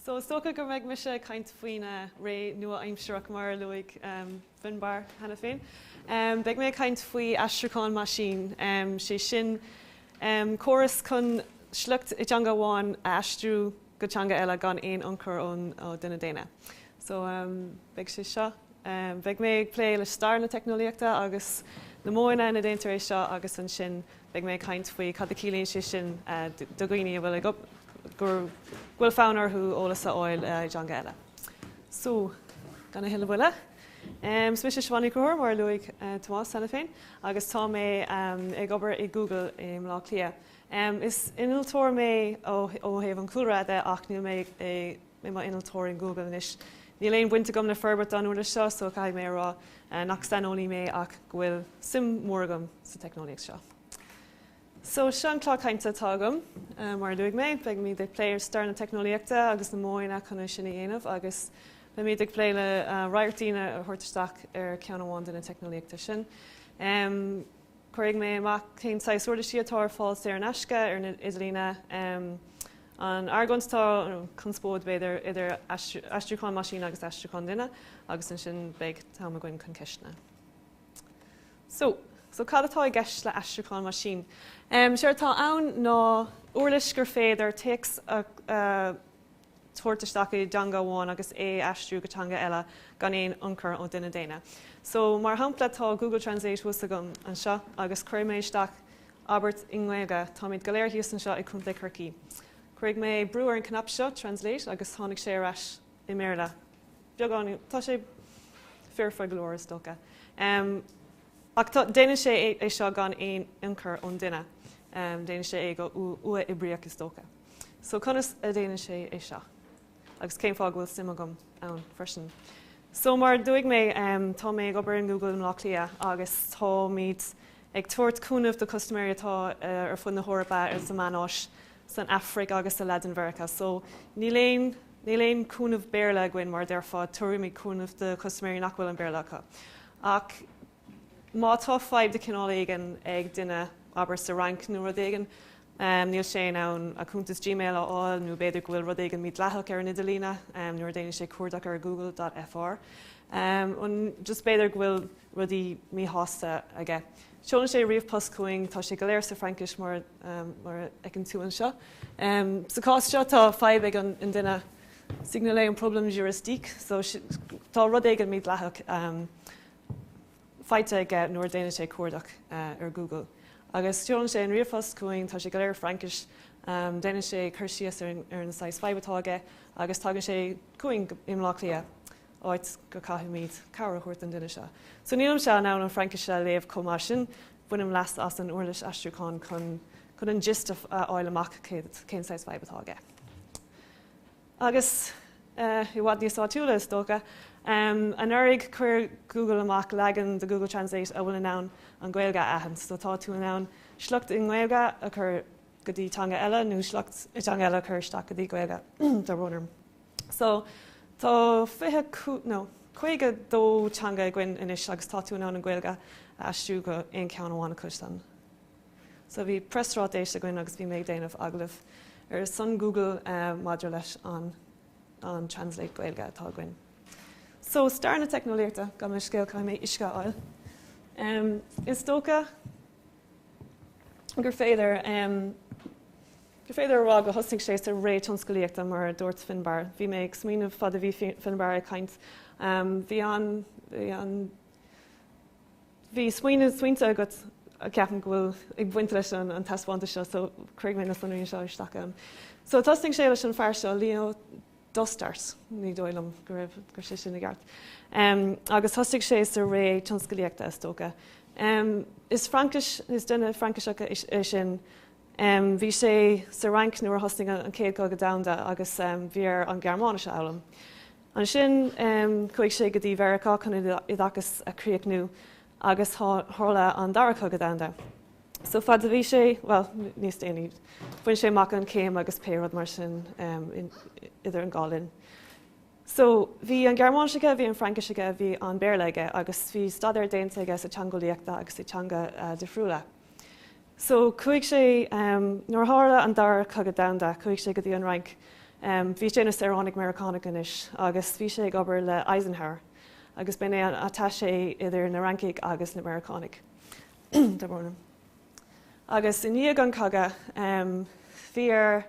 So is dócha go mbeidh mise ag caint faoin eh, ré nua-aimsearach mar a luaigh em, Finbar cheana féin. Em, Beidh mé ag caint faoi aistriúchán maisín, em, sé sin em, córas chun sliocht i dteanga amháin a aistriú go teanga eile gan aon ionchur ó duine daonna. So beidh sé seo. Beidh mé ag plé le stair na teicneolaíochta agus na modhanna ina déantar é seo agus ansin beidh mé ag caint faoi cad a ciallaíonn sé sin do dhaoine a bhfuil ag go bhfuil fonn orthu eolas a fháil i dteanga eile. So gan a thuilleadh moille, is mise Siobhán Ní Chonchúir mar a luaigh Tomás cheana féin agus tá mé ag obair i Google i mBleá Cliath. Em, is innealtóir mé ó, ó thaobh an chúlra de ach níl mé i, i mo innealtóir in Google anois. Níl aon bhaint agam le forbairt an uirlis seo so caithfidh mé a rá eh nach saineolaí mé ach go bhfuil suim mhór agam sa teicneolaíocht seo. So seo an clár cainte atá agam. Eh mar a luaigh mé, beimid ag plé le stair na teicneolaíochta agus na modhanna chun é sin a dhéanamh agus beimid ag plé le eh radharc doimhin a thabhairt isteach ar ceann amháin de na teicneolaíochtaí sin. Em. Cuirfidh mé amach cén saghas uirlisí atá ar fáil saor in aisce ar an idirlíon, an argóint atá, nó conspóid b'fhéidir, idir aistriúchán maisín agus aistriúchán duine, agus ansin beidh am againn chun ceisteanna. So, so cad atá i gceist le aistriúchán maisín? Um, Séard atá ann ná uirlis gur féidir téacs a, uh, tabhairt isteach i dteanga amháin agus é a aistriú go teanga eile gan aon ionchur ó duine daonna. So, mar shampla, tá Google Translate thuas agam anseo agus cuirfidh mé isteach abairt i nGaeilge, táimid go léir thíos anseo i gContae Chorcaí. Cuirfidh mé brú ar an cnaipe seo, Translate, agus tháinig sé ar ais i mBéarla. Beagán, tá sé foirfe go leor, is dócha. Um, ach tá, déanann sé é, é seo gan aon ionchur ón duine. Um, déanann sé é go uathoibríoch, is dócha. So conas a déanann sé é seo? Agus cén fáth go bhfuil suim agam ann freisin? So mar a luaigh mé, tá mé ag obair in Google i mBlá Cliath agus táimid ag tabhairt cúnaimh do custaiméirí atá ar fud na hEorpa, ar sa Mheánoirthear, san Afraic agus sa Laidin Mheiriceá. So níl aon, níl aon cúnamh Béarla againn mar a déarfá, tabharfaimid cúnamh do chustaiméirí nach bhfuil an Béarla acu. Ach Má tá fadhb de chineál éigin ag duine, abair sa Fhrainc nó rud éigin, níl sé in ann a chuntas Gmail a fháil nó b'fhéidir go bhfuil rud éigin mídhleathach ar an idirlíon nuair a déanann sé cuardach ar Google dot fr. Nó just b'fhéidir go bhfuil rudaí míshásta aige. Seolann sé ríomhpost chugainn, tá sé go léir sa Fraincis mar mar a fheiceann tú anseo. Sa chás seo tá fadhb ag an duine signaler un problème juridique, so tá rud éigin mídhleathach faighte aige nuair a déanann sé cuardach ar Google. Agus seolann sé ríomhphost chugainn, tá sé go léir i Fraincis. Déanann sé cur síos ar an saghas fadhb atá aige agus tagann sé chugainn i mBlá Cliath, áit go caithfimid cabhair a thabhairt don duine seo. So nílimse in ann an Fraincis a léamh chomh maith sin, bainim leas as an uirlis aistriúcháin chun an gist a fháil amach cén saghas fadhb atá aige. Agus i bhfad níos áitiúla is dócha. Anuraidh chuir Google amach leagan de Google Translate a bhfuil in ann an Ghaeilge a aithint, so tá tú in ann sliocht i nGaeilge a chur go dtí teanga eile nó sliocht i dteanga eile a chur isteach go dtí Gaeilge do runaram. So tá fiche, no, caoga dó teanga againn anois agus tá tú in ann an Ghaeilge a aistriú go aon cheann amháin acu san. So bhí preasráiteas againn agus bhí mé ag déanamh agallamh ar son Google maidir leis an an translate Gaeilge atá againn. So stair na teicneolaíochta, gabh mo leithscéal caithfidh mé uisce a fháil. Em is dócha gur féidir em gur féidir a rá go thosnaigh sé sa ré tionscalaíochta mar a dúirt Finbar. Bhí mé ag smaoineamh fad a bhí Finbar ag caint em bhí an bhí an Bhí smaoineamh smaointe agat, ceapaim go bhfuil, ag baint leis an an taispeántas seo so cuirfidh mé na sonraí anseo isteach ann. So thosnaigh sé leis an fear seo, Léon Dostert, ní dóigh liom go raibh, go raibh sé sin i gceart. Em, agus thosaigh sé sa ré tionscalaíochta, is dócha. Em, is Fraincis, is duine Frainciseach é sin. Em, bhí sé sa Fhrainc nuair a thosnaigh an an Céad Chogadh Domhanda agus em bhí air an Gearmáinis a fhoghlaim. Ansin chuaigh sé go dtí Mheiriceá chun a oideachas a chríochnú agus tharla an Dara Cogadh Domhanda. So fad a bhí sé, bhuel, níos déanaí, bhain sé amach an chéim agus pé rud mar sin idir an dhá linn. So bhí an Gearmáinis aige, bhí an Fraincis aige, bhí an Béarla aige agus bhí staidéar déanta aige sa teangeolaíocht agus i teanga difriúla. So chuaigh sé, nuair a tharla an Dara Cogadh Domhanda, chuaigh sé go dtí an Fhrainc. Bhí sé ina saoránaigh Meiriceánach anois agus bhí sé ag obair le Eisenhower agus b'in é an attaché idir na Fhrancaigh agus na Meiriceánaigh. Agus i ndiaidh an chogadh, bhí air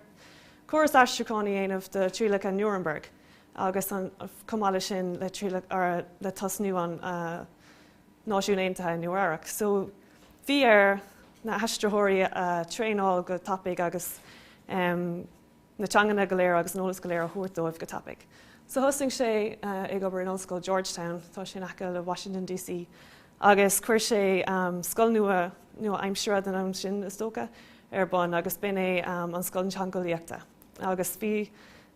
córas aistriúcháin a dhéanamh do thrialacha Nuremberg agus chomh maith leis sin le tosnú an, Náisiún Aontaithe i Nua-Eabhrac. So bhí air na haistritheoirí a traenáil go tapaidh agus na teanganna go léir agus an eolas go léir a thabhairt dóibh go tapaidh. So thosaigh sé ag obair in Ollscoil Georgetown, tá sé sin in aice le Washington DC, agus chuir sé scoil nua, nua-aimseartha den am sin is dócha, ar bun agus b'in é an scoil teangeolaíochta. agus bhí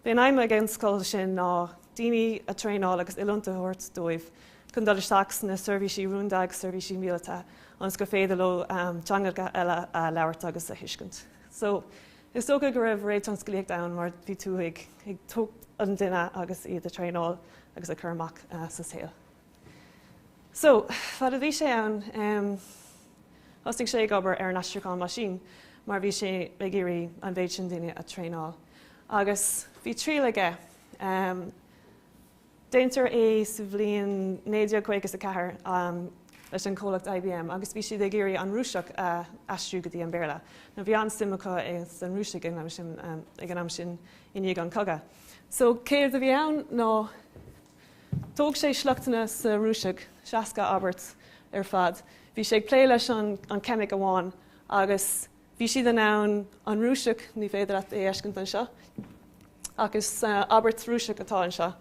bhí an aidhm ag an scoil sin ná daoine a traenáil agus oiliúint a thabhairt dóibh chun dul isteach sna seirbhísí rúnda agus seirbhísí míleata ionas gur féidir leo teangacha eile a labhairt agus a thuiscint. So is dócha go raibh ré tionsclaíocht ann mar bhí tú ag ag tógaint an duine agus iad a traenáil agus a chur amach sa saol. So, fad a bhí sé ann, em, thosnaigh sé ag obair ar an aistriúchán meaisín mar bhí sé ag iarraidh an mhéid sin daoine a traenáil. Agus bhí triail aige, em, déantar é sa bhliain naoi déag caoga is a ceathair, em, leis an comhlacht IBM agus bhí siad ag iarraidh an Rúiseach a aistriú go dtí an Béarla. Nó bhí an-suim acu i san Rúisigh ag an am sin, em, ag an am sin i ndiaidh an cogadh. So, céard a bhí ann ná Thóg sé sleachtanna sa Rúisigh, 60 abairt ar fad. Bhí sé ag plé leis an an ceimic amháin agus bhí siad in ann an Rúiseach, ní féidir leat é a fheiscint anseo, ach is abairt Rúiseach atá anseo.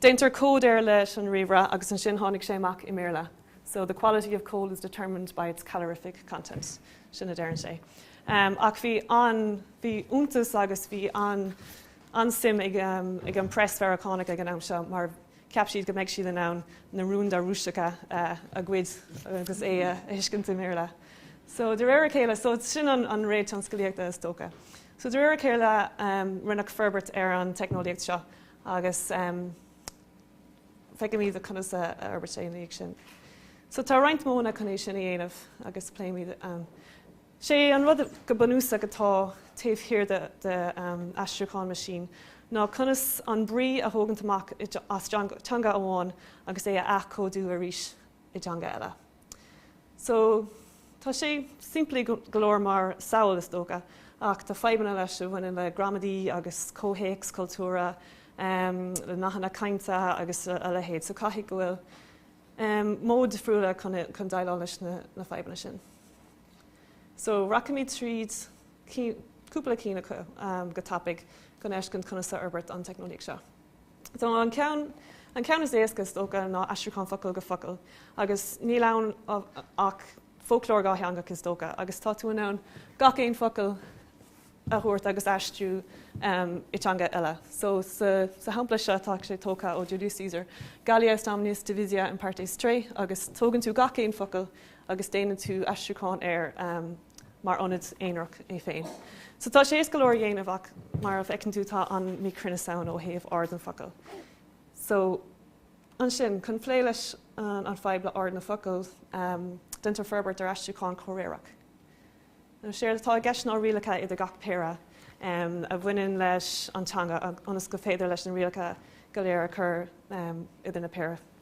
Déantar cód air leis an ríomhaire agus ansin tháinig sé amach i mBéarla. So the quality of coal is determined by its calorific content. Sin a deireann sé. Ach bhí an, bhí iontas agus bhí an, an-suim ag an press Mheiriceánach ag an am seo mar cheap siad go mbeidh siad in ann na rúnda Rúiseacha a ghoid agus é a thuiscint i mBéarla. So de réir a chéile, so sin an an ré tionsclaíochta is dócha. So de réir a chéile rinneadh forbairt ar an teicneolaíocht seo agus feicimid conas a fhorbairt sé ina dhiaidh sin. So tá roinnt modhanna chun é sin a dhéanamh agus pléimid an. Sé an rud go bunúsach atá taobh thiar de aistriúchán meaisín ná conas an brí a thógaint amach as teanga amháin agus é a athchódú arís i dteanga eile. So, tá sé simplí go leor mar samhail is dócha ach tá fadhbanna leis a bhaineann le gramadaí agus comhthéacs cultúrtha, le nathanna cainte agus a leithéid. So, caithfidh go bhfuil modh difriúla chun déileáil leis na fadhbanna sin. So rachaimid tríd cúpla cinn acu go tapaig chun fheiscint conas a fhorbairt an teicneolaíocht seo. So an ceann an ceann is éasca is dócha ná aistriúchán focal go focal agus níl ann ach foclóir dhátheangach is dócha agus tá tú in ann gach aon focal a thabhairt agus aistriú i teanga eile. So sa sa shampla seo tá sé tógtha ó Julius Caesar, Gallia est omnis divisa in partes tres agus tógann tú gach aon focal agus déanann tú aistriúchán air mar ionad aonarach é féin. So tá sé is go leor a dhéanamh ach mar a bhfeiceann tú tá an míchruinneas ann ó thaobh ord an focal. So ansin, chun plé leis an fadhb le ord na focal, déantar forbairt ar aistriúchán comhréireach. Now séard atá i gceist ná rialacha idir gach péire a bhaineann leis an teanga ionas gur féidir leis na rialacha go léir a chur idir na péire.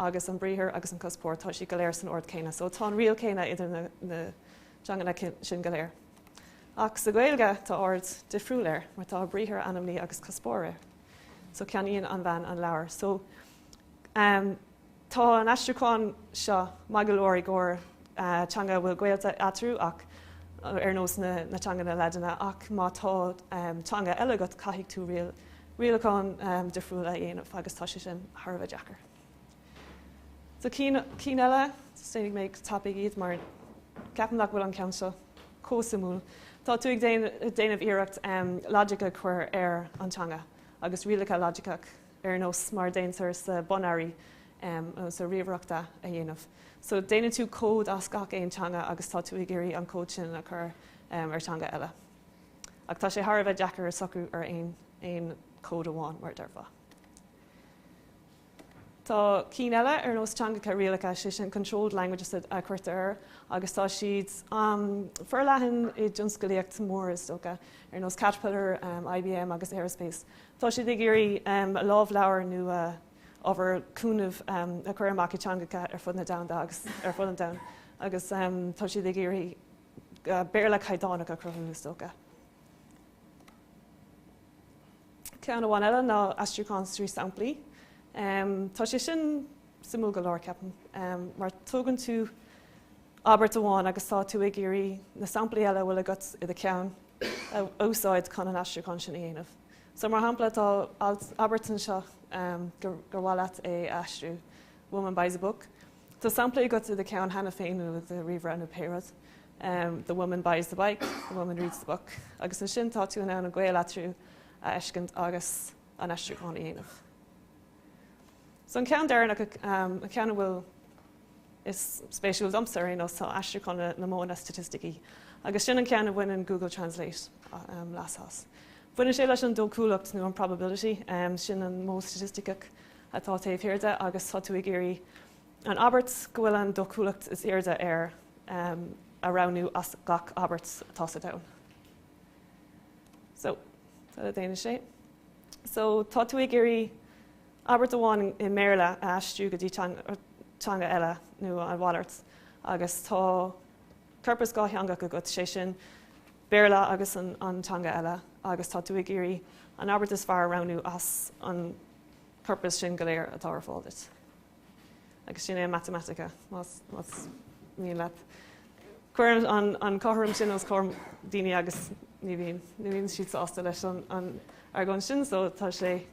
agus an briathar agus an cuspóir, tá siad go léir san ord céanna. So tá an riail céanna idir na teanganna sin go léir. Ach sa Ghaeilge tá ord difriúil air mar tá briathar, ainmní agus cuspóir air. So ceannaíonn an bhean an leabhar. So tá an aistriúchán seo maith go leor i gcomhair teanga a bhfuil gaolta eatarthu ach ar nós na teanganna Laidine ach má tá teanga eile agat caithfidh tú rialacháin difriúil a dhéanamh agus tá sé sin thar a bheith deacair. So cinn cinn eile, déanfaidh mé go tapaidh iad mar ceapaim nach bhfuil an ceann seo comh suimiúil. Tá tú ag déanamh iarracht logic a chur ar an teanga agus rialacha logiceach ar nós mar a déantar sa binary nó sa ríomhaireacht a dhéanamh. So déanann tú cód as gach aon teanga agus tá tú ag iarraidh an cód sin a chur ar teanga eile. Ach tá sé thar a bheith deacair socrú ar aon chód amháin, mar a deirfeá. Tá cinn eile ar nós teangacha rialacha, sé sin controlled languages a chuirtear air agus tá siad forleathan i dtionsclaíocht mhór is dócha, ar nós Caterpillar, IBM agus Aerospace Tá siad ag iarraidh a lámhleabhar nó ábhar cúnaimh, a chur amach i dteangacha ar fud na domhanda agus ar fud an domhain agus tá siad ag iarraidh Béarla caighdeánach a chruthú, is dócha. Ceann amháin eile ná aistriúchán trí samplaí. Tá sé sin suimiúil go leor, ceapaim, mar tógann tú abairt amháin agus tá tú ag iarraidh na samplaí eile a bhfuil agat i do cheann a úsáid chun an aistriúchán sin a dhéanamh. So, mar shampla, tá abairt anseo gur mhaith leat é a aistriú, Woman buys a book. Tá samplaí agat i do ceann cheana féin nó i do ríomhaire nó pé rud. The woman buys the bike, the woman reads the book. Agus ansin tá tú in ann an gaol eatarthu a fheiscint agus an aistriúchán a dhéanamh. An ceann deireanach, an ceann a bhfuil is spéisiúil domsa ar aon nós, ná aistriúchán na modhanna staitisticí agus sin an ceann a bhaineann Google Translate leas as. Baineann sé leis an dóchúlacht nó an probability, sin an modh staitisticeach atá taobh thiar de agus tá tú ag iarraidh an abairt go bhfuil an dóchúlacht is airde air a roghnú as gach abairt atá sa domhan. So, tá le déanamh sé. So tá tú ag iarraidh abairt amháin i mBéarla a aistriú go dtí teanga eile nó a mhalairt agus tá corpas dhátheangach agat, sé sin Béarla agus an teanga eile agus tá tú ag iarraidh an abairt is fearr a roghnú as an corpas sin go léir atá ar fáil duit. Agus sin é an matamaitice, más mian leat. Cuir an cothrom sin os comhair daoine agus ní bhíonn siad sásta leis an argóint sin, so tá sé,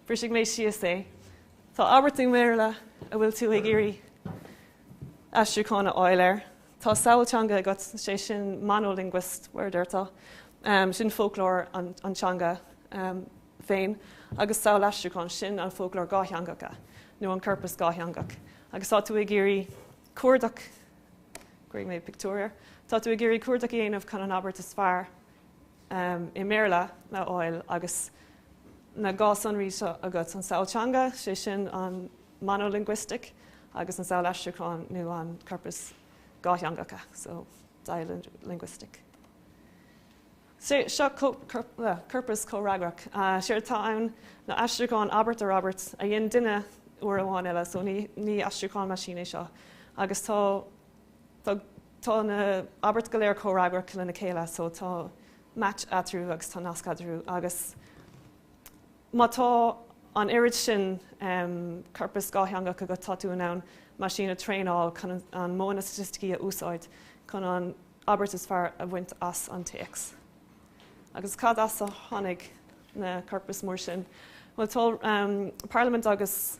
bhrisfidh mé síos é. Tá abairt i mBéarla a bhfuil tú ag iarraidh aistriúchán a fháil air. Tá samhail teanga agat, sé sin monolingual, mar atá, sin foclóir an teanga. féin agus samhail aistriúcháin sin an foclóir dhátheangacha nó an corpas dhátheangach agus tá tú ag iarraidh cuardach, cuirfidh mé pictiúr air, tá tú ag iarraidh cuardach a dhéanamh chun an abairt is fearr i mBéarla a fháil agus na dhá sonraí seo agat, an samhail teanga, sé sin an monolinguistic, agus an samhail aistriúcháin nó an corpas dhátheangacha, so dialinguistic. Seo corpas comhfhreagrach. Séard atá ann ná aistriúchán abairt ar abairt a dhein duine uair amháin eile, so ní aistriúchán meaisín é seo, agus tá na abairt go léir comhfhreagrach lena chéile, so tá match eatarthu agus tá nasc eatarthu agus. Má tá an oiread sin corpas dhátheangach agat, tá tú in ann meaisín a traenáil chun na modhanna staitisticí a úsáid chun an abairt is fearr a bhaint as an téacs. Agus cad as a tháinig na corpais mór sin? Bhuel, tá Parlaimint agus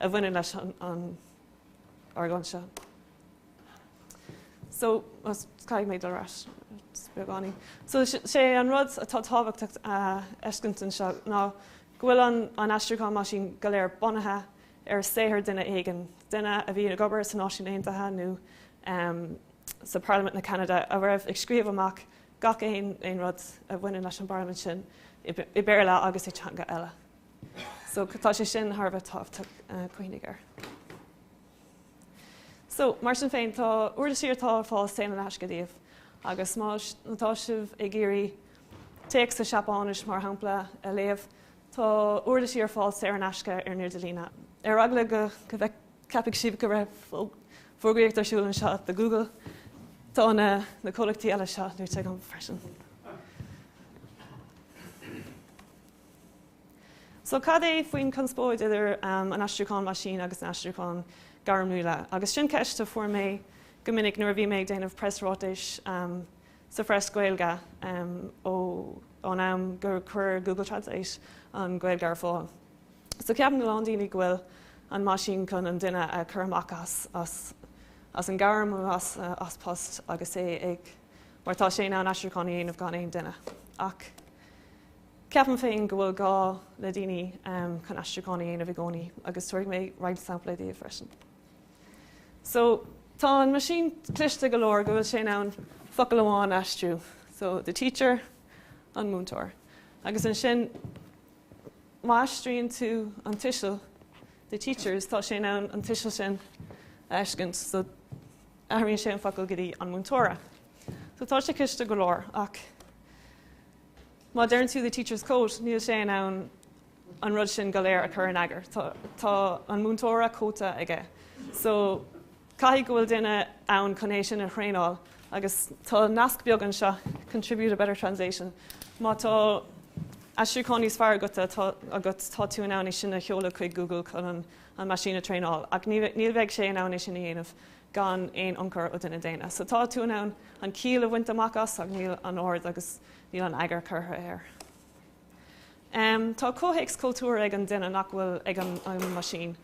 a bhaineann leis an argóint seo. So, caithfidh mé dul ar ais beagáinín. So, sé an rud atá tábhachtach a fheiscint anseo ná go bhfuil an aistriúchán meaisín go léir bunaithe ar saothar duine éigin, duine a bhí ag obair sna Náisiúin Aontaithe nó sa Pharlaimint na Ceanada a raibh ag scríobh amach gach aon rud a bhaineann leis an bParlaimint sin i Béarla agus i dteanga eile. So tá sé sin thar a bheith tábhachtach cuimhnigh air. So mar sin féin tá uirlisí atá ar fáil saor in aisce daoibh agus má tá sibh ag iarraidh téacs sa Seapáinis mar shampla a léamh tá uirlisí ar fáil saor in aisce ar an idirlíne. Ar eagla go mbeadh ceapfaidh sibh go raibh fógraíocht ar siúl anseo do Google tá na na comhlachtaí eile seo luaite agam freisin. So cad é faoin chonspóid idir an aistriúchán meaisín agus an aistriúchán gairmiúla? Agus sin ceist a fuair mé go minic nuair a bhí mé ag déanamh preasráitis sa phreas Gaeilge ón am gur chuir Google Translate an Ghaeilge ar fáil. So ceapann a lán daoine go bhfuil an meaisín chun an duine a chur amach as an gairm as post agus é ag mar tá sé in ann aistriúchán a dhéanamh gan aon duine ach. Ceapaim féin go bhfuil gá le daoine chun aistriúcháin a dhéanamh i gcónaí agus tabharfaidh mé roinnt sampla daoibh freisin. So, tá an meaisín cliste go leor go bhfuil sé in ann focal amháin a aistriú. So, the teacher, an múinteoir. Agus ansin, má aistríonn tú an tuiseal, the teacher's, tá sé in ann an tuiseal sin a fheiscint. So, athraíonn sé an focal go dtí an múinteora. So, tá sé cliste go leor ach Má deireann tú the teacher's coat, níl sé in ann an rud sin go léir a chur in eagar. Tá, tá an múinteora cóta aige. So, caithfidh go bhfuil duine ann chun é sin a thraenáil. Agus tá nasc beag anseo, contribute a better translation. Má tá aistriúchán níos fearr agat, tá tú in ann é sin a sheoladh chuig Google chun an, an meaisín a thraenáil. Ach ní, níl bheidh sé in ann é sin a dhéanamh gan aon ionchur ó duine daonna. So, tá tú in ann an ciall a bhaint amach as ach níl an ord agus Níl an eagar curtha air. Tá comhthéacs cultúir ag an duine nach bhfuil ag an meaisín.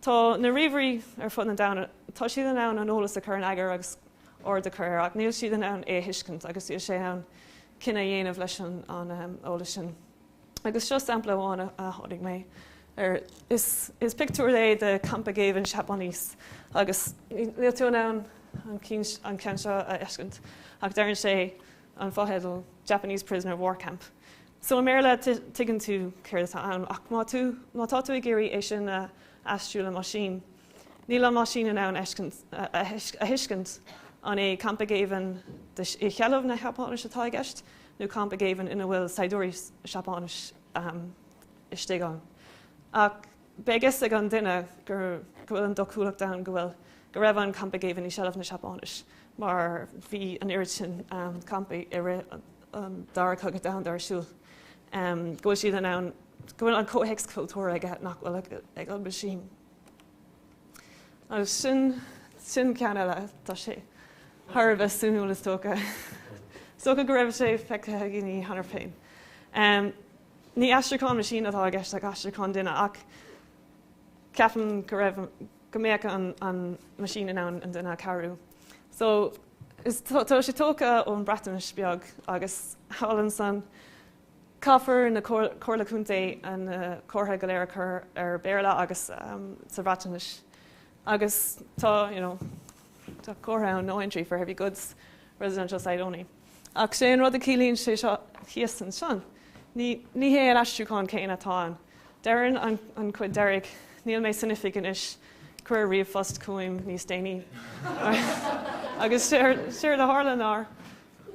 Tá na ríomhairí ar fud an domhain, tá siad in ann an eolas a chur in eagar agus ord a chur air ach níl siad in ann é a thuiscint agus níl sé in ann cinneadh a dhéanamh leis an eolas sin. Agus seo sampla amháin a tháinig mé air. Is pictiúr é de campa géibhinn Seapáinis agus níl tú in ann an ceann seo a fheiscint ach deireann sé, an fotheideal Japanese Prisoner of War Camp. So i mBéarla, tuigeann tú céard atá ann, ach má tú, má tá tú ag iarraidh é sin a aistriú le meaisín, níl an meaisín in ann a thuiscint an é campa géibhinn i sheilbh na Sheapáinise atá i gceist nó campa géibhinn ina bhfuil saighdiúirí Seapáinis istigh ann. Ach. Beidh fhios ag an duine go bhfuil an dóchúlacht ann go bhfuil, go raibh an campa géibhinn i seilbh na Seapáinise mar bhí an oiread sin campaí i rith an Dara Cogadh Domhanda ar siúl, go bhfuil siad in ann, go bhfuil an comhthéacs cultúrtha aige nach bhfuil ag an meaisín. Agus sin, sin ceann eile, tá sé thar a bheith suimiúil is dócha. Is dócha go raibh sé feicthe againn cheana féin. Ní aistriúchán meaisín atá i gceist ach aistriúchán duine, ach ceapaim go raibh, go mbeadh an, an meaisín in ann an duine a chabhrú. So, is, tá sé tógtha ón Breatnais beag agus thall ansin, caithfidh na Comhairle Contae na uh, comharthaí go léir a chur as Béarla agus um, sa Bhreatnais. Agus tá, you know, tá comhartha ann, no entry for heavy goods, residential site only. Ach sé an rud a chiallaíonn sé seo thíos ansin, ní ní hé an aistriúchán céanna atá ann. Deireann an an chuid deiridh, Níl mé san oifig anois, cuir ríomhphost chugam níos déanaí. Agus séard séard a tharla ná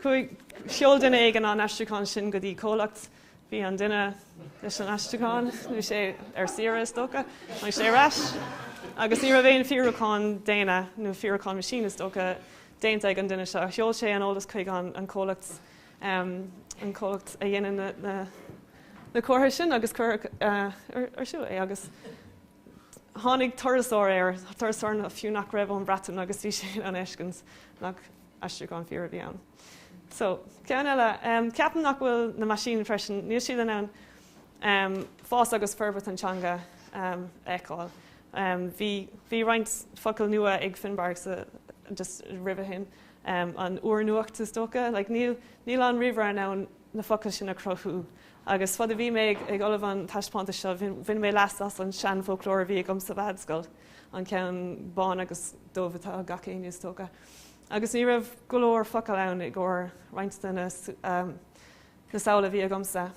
chuaigh sheol duine éigin an t-aistriúchán sin go dtí comhlacht, bhí an duine leis an aistriúchán, bhí sé ar saoire is dócha, tháinig sé ar ais agus ní raibh aon fíorúchán déanta nó fíorúchán meaisín is dócha déanta ag an duine seo. Sheol sé an t-eolas chuig an comhlacht an comhlacht a dhéanann na comharthaí sin agus cuireadh ar suas é agus tháinig turasóir air, turasóir fiú nach raibh ón Bhreatain agus bhí sé in ann a fheiscint nach aistriúchán fíor a bhí ann. So, ceann eile. Ceapaim nach bhfuil na meaisín freisin, níl siad in ann fás agus forbairt an teanga a fheiceáil. Bhí roinnt focal nua ag Finbarr just roimhe sin, an úrnuacht is dócha, níl an ríomhaire in ann na focail sin a chruthú. Agus fad is a bhí mé ag ullmhú an taispeántais seo bhain mé leas as an seanfhoclóir a bhí agam sa mheánscoil, an ceann bán agus dubh atá ag gach éinne is dócha. Agus ní raibh go leor focal ann i gcomhair roinnt de na na samhla a bhí agamsa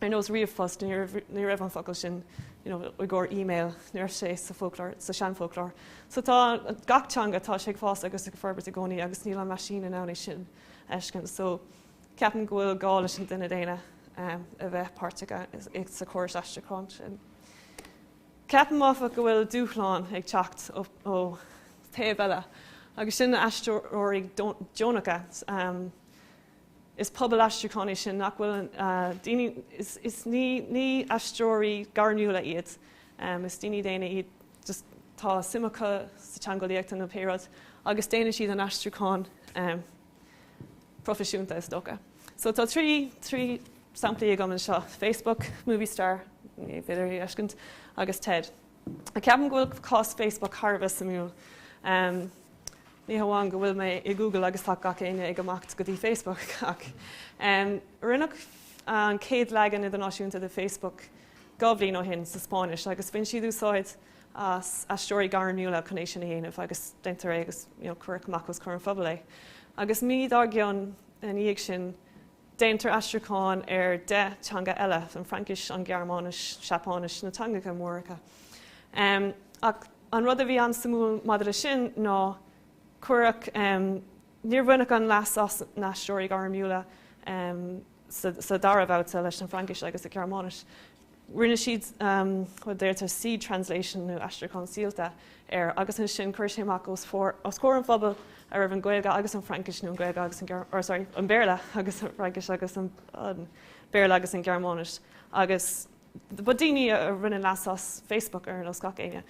ar nós ríomhphost ní raibh an focal sin i gcomhair email, ní raibh sé sa seanfhoclóir. So tá gach teanga tá sé ag fás agus ag forbairt i gcónaí agus níl an meaisín in ann é sin a fheiscint. So ceapaim go bhfuil gá leis an duine daonna a bheith páirteach sa chóras aistriúcháin sin. Ceapaim áfach go bhfuil dúshlán ag teacht ó thaobh eile agus sin na haistritheoirí deonacha. Is pobal aistriúcháin é sin nach bhfuil daoine, is ní aistritheoirí gairmiúla iad, is daoine daonna iad, just tá suim acu sa teangeolaíocht nó pé rud agus déanann siad an aistriúchán proifisiúnta is dócha. So tá trí samplaí agam anseo, Facebook, Movistar, ní féidir í a fheiscint, agus Ted. Ceapaim go bhfuil cás Facebook thar a bheith suimiúil. Ní hamháin go bhfuil mé i Google agus tá gach éinne ag imeacht go dtí Facebook ach rinneadh an chéad leagan idirnáisiúnta de Facebook dhá bhliain ó shin sa Spáinnis agus bhain siad úsáid as aistritheoirí gairmiúla chun é sin a dhéanamh agus deintear é agus cuireadh amach os comhair an phobail é. Agus mí dár gcionn ina dhiaidh sin Déantar aistriúcháin ar deich teanga eile, an Fraincis, an Ghearmáinis, Seapáinis, na teangacha móracha. Ach an rud a bhí an-suimiúil maidir le sin ná cuireadh, níor bhaineadh an-leas as na haistritheoirí gairmiúla sa dara babhta leis an bhFraincis agus sa Ghearmáinis. Rinne siad rud a deirtear seed translation nó aistriúchán síolta air agus ansin chuir sé amach os comhair an phobail a raibh an Ghaeilge agus an Fraincis nó an Ghaeilge agus an, or sorry, an Béarla agus an Fraincis agus an Béarla agus an Ghearmáinis agus ba daoine a rinne leas as Facebook ar nós gach éinne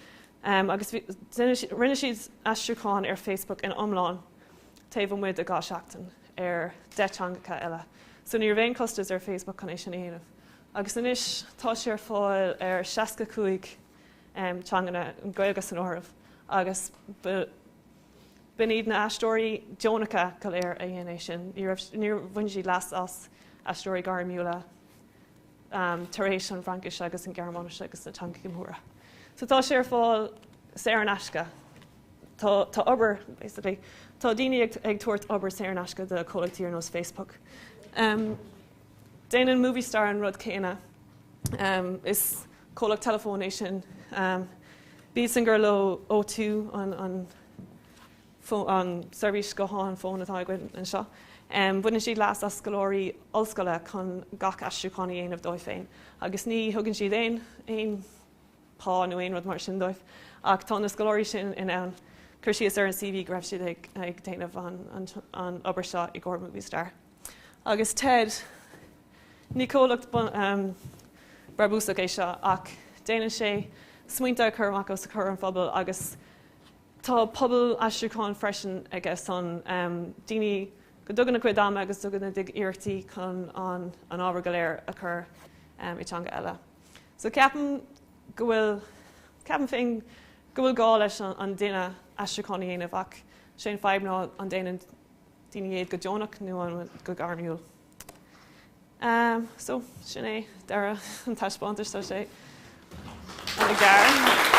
agus rinne siad aistriúchán ar Facebook ina iomlán taobh amuigh de dhá seachtain ar deich teangacha eile. So ní raibh aon costas ar Facebook chun é sin a dhéanamh. agus anois tá sé ar fáil ar seasca cúig teanganna, an Ghaeilge san áireamh, agus b'in iad na aistritheoirí deonacha go léir a dhein é sin, ní raibh, níor bhain siad leas as aistritheoirí gairmiúla tar éis an Fraincis agus an Gearmáinis agus na teangacha móra. So tá sé ar fáil saor in aisce. Tá, tá obair, basically, tá daoine ag, ag tabhairt obair saor in aisce do comhlachtaí ar nós Facebook. Um, Déanann Movistar an rud céanna. Is comhlacht teileafóin é sin. Bíodh san gur leo O2 an seirbhís gutháin, fón atá againn anseo, baineann siad leas as scoláirí ollscoile chun gach aistriúchán a dhéanamh dóibh féin agus ní thugann siad aon phá nó aon rud mar sin dóibh ach tá na scoláirí sin in ann cur síos ar an CV go raibh siad ag déanamh an obair seo i gcomhair Movistar. Agus Ted, ní comhlacht brabúsach é seo ach déanann sé smaointe a chur amach os comhair an phobail agus tá pobal aistriúcháin freisin aige san, daoine go dtugann a gcuid ama agus dtugann a gcuid iarrachtaí chun an ábhar go léir a chur i teanga eile. So ceapaim go bhfuil, ceapaim féin go bhfuil gá leis an duine aistriúchán a dhéanamh ach sé an fadhb ná an déanann daoine iad go deonach nó an go gairmiúil. So, sin é deireadh an taispeántais. Tá sé ana-ghearr.